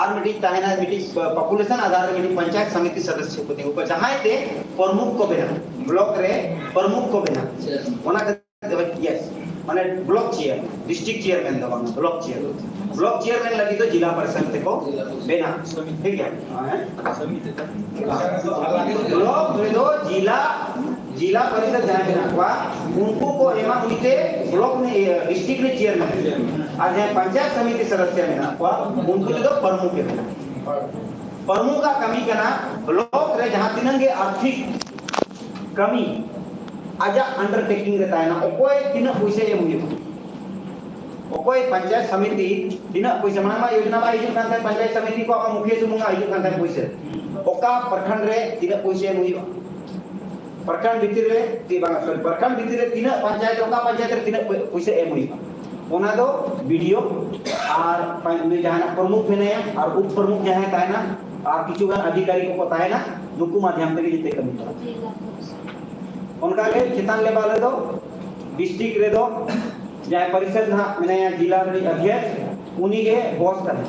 ᱟᱨ ᱢᱤᱫᱴᱤᱡ ᱛᱟᱦᱮᱱᱟ ᱢᱤᱫᱴᱤᱡ ᱯᱚᱯᱩᱞᱮᱥᱚᱱ ᱟᱫᱷᱟᱨ ᱨᱮ ᱢᱤᱫᱴᱤᱡ ᱯᱚᱧᱪᱟᱭᱮᱛ ᱥᱚᱢᱤᱛᱤ ᱥᱚᱫᱚᱥᱥᱚ ᱠᱚ ᱛᱤᱸᱜᱩ ᱠᱚᱣᱟ ᱡᱟᱦᱟᱸᱭ ᱛᱮ ᱯᱨᱚᱢᱩᱠᱷ ᱠᱚ ᱵᱮᱱᱟᱣ ᱵᱞᱚᱠ ᱨᱮ ᱯᱨᱚᱢᱩᱠᱷ ᱠᱚ ᱵᱮᱱᱟᱣ ᱚᱱᱟ ᱠᱷᱟᱹᱛᱤᱨ ᱢᱟᱱᱮ ᱵᱞᱚᱠ ᱪᱮᱭᱟᱨ ᱰᱤᱥᱴᱨᱤᱠᱴ ᱪᱮᱭᱟᱨᱢᱮᱱ ᱫᱚ ᱵᱟᱝ ᱵᱞᱚᱠ ᱪᱮᱭᱟᱨ ᱵᱞᱚᱠ ᱪᱮᱭᱟᱨᱢᱮᱱ ᱞᱟᱹᱜᱤᱫ ᱫᱚ ᱡᱤᱞᱟ ᱯᱟᱨᱤᱥᱚᱫ ᱛᱮᱠᱚ ᱵᱮᱱᱟᱣ ᱴᱷᱤᱠ ᱜᱮᱭᱟ ᱵᱞᱚᱠ ᱨᱮᱫᱚ ᱡᱤᱞᱟ ᱡᱤᱞᱟ ᱯᱟᱨᱤᱥᱚᱫ ᱡᱟᱦᱟᱸᱭ ᱢᱮᱱᱟᱜ ᱠᱚᱣᱟ ᱩᱱᱠᱩ ᱠᱚ ᱮᱢᱟ ᱩᱱᱤᱛᱮ ᱵᱞᱚᱠ ᱰᱤᱥᱴᱨᱤᱠᱴ ᱨᱮ ᱪᱮᱭᱟᱨᱢᱮᱱ ᱟᱨ ᱡᱟᱦᱟᱸᱭ ᱯᱚᱧᱪᱟᱭᱮᱛ ᱥᱚᱢᱤᱛᱤ ᱥᱚᱫᱚᱥᱭᱚ ᱢᱮᱱᱟᱜ ᱠᱚᱣᱟ ᱩᱱᱠᱩ ᱛᱮᱫᱚ ᱯᱨᱚᱢᱩᱠᱷ ᱮ ᱢᱮᱱᱟᱜ ᱯᱨᱚᱢᱩᱠᱷ ᱟᱜ ᱠᱟᱹᱢᱤ ᱠᱟᱱᱟ ᱵᱞᱚᱠ ᱨᱮ ᱡᱟᱦᱟᱸ ᱛᱤᱱᱟᱹᱜ ᱜᱮ ᱟᱨᱛᱷᱤᱠ ᱠᱟᱹᱢᱤ ᱟᱡᱟᱜ ᱟᱱᱰᱟᱨᱴᱮᱠᱤᱝ ᱨᱮ ᱛᱟᱦᱮᱱᱟ ᱚᱠᱚᱭ ᱛᱤᱱᱟᱹᱜ ᱯᱚᱭᱥᱟ ᱮᱢ ᱦᱩᱭᱩᱜᱼᱟ ᱚᱠᱚᱭ ᱯᱚᱧᱪᱟᱭᱮᱛ ᱥᱚᱢᱤᱛᱤ ᱛᱤᱱᱟᱹᱜ ᱯᱚᱭᱥᱟ ᱢᱟᱲᱟᱝ ᱢᱟ ᱭᱳᱡᱚᱱᱟ ᱵᱟᱭ ᱦᱤᱡᱩᱜ ᱠᱟᱱ ᱛᱟᱦᱮᱸᱫ ᱯᱚᱧᱪᱟᱭᱮᱛ ᱥᱚᱢᱤᱛᱤ ᱠᱚ ᱟᱢᱟᱜ ᱢᱩᱠᱷᱤᱭᱟᱹ ᱥᱩᱢᱩᱝ ᱟᱜ ᱦᱤᱡᱩᱜ ᱠᱟᱱ ᱛᱟᱦᱮᱸᱫ ᱯᱚᱭᱥᱟ ᱚᱠᱟ ᱯᱨᱚᱠᱷᱚᱸᱰ ᱨᱮ ᱛᱤᱱᱟᱹᱜ ᱯᱚᱭᱥᱟ ᱮᱢ ᱦᱩᱭᱩᱜᱼᱟ ᱯᱨᱚᱠᱷᱚᱸᱰ ᱵᱷᱤᱛᱤᱨ ᱨᱮ ᱛᱤ ᱵᱟᱝ ᱥᱚᱨᱤ ᱯᱨᱚᱠᱷᱚᱸᱰ ᱵᱷᱤᱛᱤᱨ ᱨᱮ ᱛᱤᱱᱟᱹᱜ ᱯᱚᱧᱪᱟᱭᱮᱛ ᱚᱠᱟ ᱯᱚᱧᱪᱟᱭᱮᱛ ᱨᱮ ᱛᱤᱱᱟᱹᱜ ᱯᱩᱭᱥᱟᱹ ᱮᱢ ᱦᱩᱭᱩᱜᱼᱟ ᱚᱱᱟ ᱫᱚ ᱵᱤᱰᱤᱭᱳ ᱟᱨ ᱩᱱᱤ ᱡᱟᱦᱟᱱᱟᱜ ᱯᱨᱚᱢᱩᱠᱷ ᱢᱮᱱᱟᱭᱟ ᱟᱨ ᱩᱯ ᱯᱨᱚᱢᱩᱠᱷ ᱡᱟᱦᱟᱸᱭ ᱛᱟᱦᱮᱱᱟ ᱟᱨ ᱠᱤᱪᱷᱩ ᱜᱟᱱ ᱟᱫᱷᱤᱠᱟᱨᱤ ᱠᱚᱠᱚ ᱛᱟᱦᱮᱱᱟ ᱱᱩᱠᱩ ᱢᱟᱫᱷᱭᱟᱢ ᱛᱮᱜᱮ ᱡᱮᱛᱮ ᱠᱟᱹᱢᱤ ᱪᱟᱞᱟᱜᱼᱟ ᱚᱱᱠᱟᱜᱮ ᱪᱮᱛᱟᱱ ᱞᱮᱵᱟᱞ ᱨᱮᱫᱚ ᱰᱤᱥᱴᱨᱤᱠᱴ ᱨᱮᱫᱚ ᱡᱟᱦᱟᱸᱭ ᱯᱚᱨᱤᱥᱚᱫ ᱱᱟᱦᱟᱜ ᱢᱮᱱᱟᱭᱟ ᱡᱮᱞᱟ ᱨᱤᱱᱤᱡ ᱚᱫᱷᱭᱚᱠᱥ ᱩᱱᱤᱜᱮ ᱵᱚᱥ ᱠᱟᱱᱟᱭ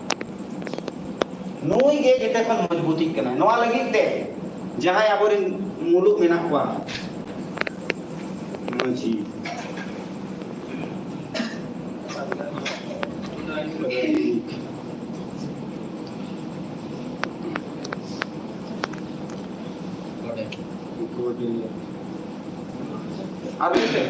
ᱱᱩᱭ ᱜᱮ ᱡᱮᱛᱮ ᱠᱷᱚᱱ ᱢᱚᱡᱽᱵᱩᱛᱤᱜ ᱠᱟᱱᱟᱭ ᱱᱚᱣᱟ ᱞᱟᱹᱜᱤᱫ ᱛᱮ ᱡᱟᱦᱟᱸᱭ ᱟᱵᱚᱨᱮᱱ ᱢᱩᱞᱩᱜ ᱢᱮᱱᱟᱜ ᱠᱚᱣᱟ ᱢᱟᱺᱡᱷᱤ ᱟᱨ ᱢᱤᱫᱴᱮᱱ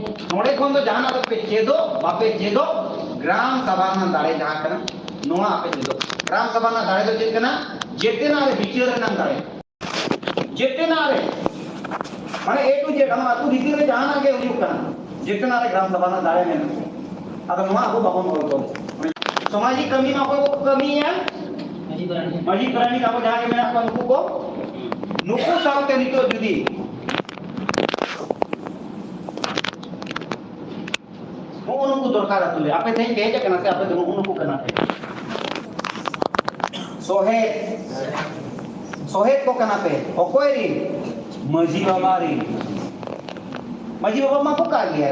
ᱱᱚᱰᱮ ᱠᱷᱚᱱ ᱫᱚ ᱡᱟᱦᱟᱱᱟᱜ ᱫᱚ ᱯᱮ ᱪᱮᱫᱚᱜ ᱵᱟᱯᱮ ᱪᱮᱫᱚᱜ ᱜᱨᱟᱢ ᱥᱟᱵᱷᱟ ᱨᱮᱱᱟᱜ ᱫᱟᱲᱮ ᱡᱟᱦᱟᱸ ᱠᱟᱱᱟ ᱱᱚᱣᱟ ᱟᱯᱮ ᱪᱮᱫᱚᱜ ᱜᱨᱟᱢ ᱥᱟᱵᱷᱟ ᱨᱮᱱᱟᱜ ᱫᱟᱲᱮ ᱫᱚ ᱪᱮᱫ ᱠᱟᱱᱟ ᱡᱮᱛᱮᱱᱟᱜ ᱨᱮ ᱵᱤᱪᱟᱹᱨ ᱨᱮᱱᱟᱜ ᱫᱟᱲᱮ ᱡᱮᱛᱮᱱᱟᱜ ᱨᱮ ᱢᱟᱱᱮ ᱮ ᱴᱩ ᱡᱮᱰ ᱟᱢᱟᱜ ᱟᱹᱛᱩ ᱵᱷᱤᱛᱤᱨ ᱨᱮ ᱡᱟᱦᱟᱱᱟᱜ ᱜᱮ ᱦᱩᱭᱩᱜ ᱠᱟᱱᱟ ᱡᱮᱛᱮᱱᱟᱜ ᱨᱮ ᱜᱨᱟᱢ ᱥᱟᱵᱷᱟ ᱨᱮᱱᱟᱜ ᱫᱟᱲᱮ ᱢᱮᱱᱟᱜᱼᱟ ᱟᱫᱚ ᱱᱚᱣᱟ ᱟᱵᱚ ᱵᱟᱵᱚᱱ ᱚᱞ ᱛᱚᱞ ᱥᱟᱢᱟᱡᱤᱠ ᱠᱟᱹᱢᱤ ᱢᱟ ᱚᱠᱚᱭ ᱠᱚ ᱠᱟᱹᱢᱤᱭᱟ ᱢᱟᱹᱡᱷᱤ ᱯᱟᱨᱟᱱᱤᱠ ᱟᱵᱚ ᱡᱟᱦᱟᱸ ᱜᱮ ᱢᱮᱱᱟᱜ ᱠᱚᱣᱟ ᱱᱩᱠᱩ ᱠᱚ ᱱᱩᱠᱩ ᱥᱟᱶᱛᱮ ᱱᱤᱛᱚᱜ ᱡᱩᱫᱤ ᱦᱚᱸᱜᱼᱚ ᱱᱩᱠᱩ ᱫᱚᱨᱠᱟᱨ ᱟᱹᱛᱩ ᱨᱮ ᱟᱯᱮ ᱛᱮᱦᱮᱧ ᱯᱮ ᱦᱮᱡ ᱟᱠᱟᱱᱟ ᱥᱮ ᱟᱯᱮ ᱫᱚ ᱱᱩᱜᱼᱩ ᱱᱩᱠᱩ ᱠᱟᱱᱟ ᱯᱮ ᱥᱚᱦᱮᱫ ᱥᱚᱦᱮᱫ ᱠᱚ ᱠᱟᱱᱟ ᱯᱮ ᱚᱠᱚᱭ ᱨᱤᱱ ᱢᱟᱺᱡᱷᱤ ᱵᱟᱵᱟ ᱨᱤᱱ ᱢᱟᱺᱡᱷᱤ ᱵᱟᱵᱟ ᱢᱟᱠᱚ ᱠᱟᱜ ᱜᱮᱭᱟ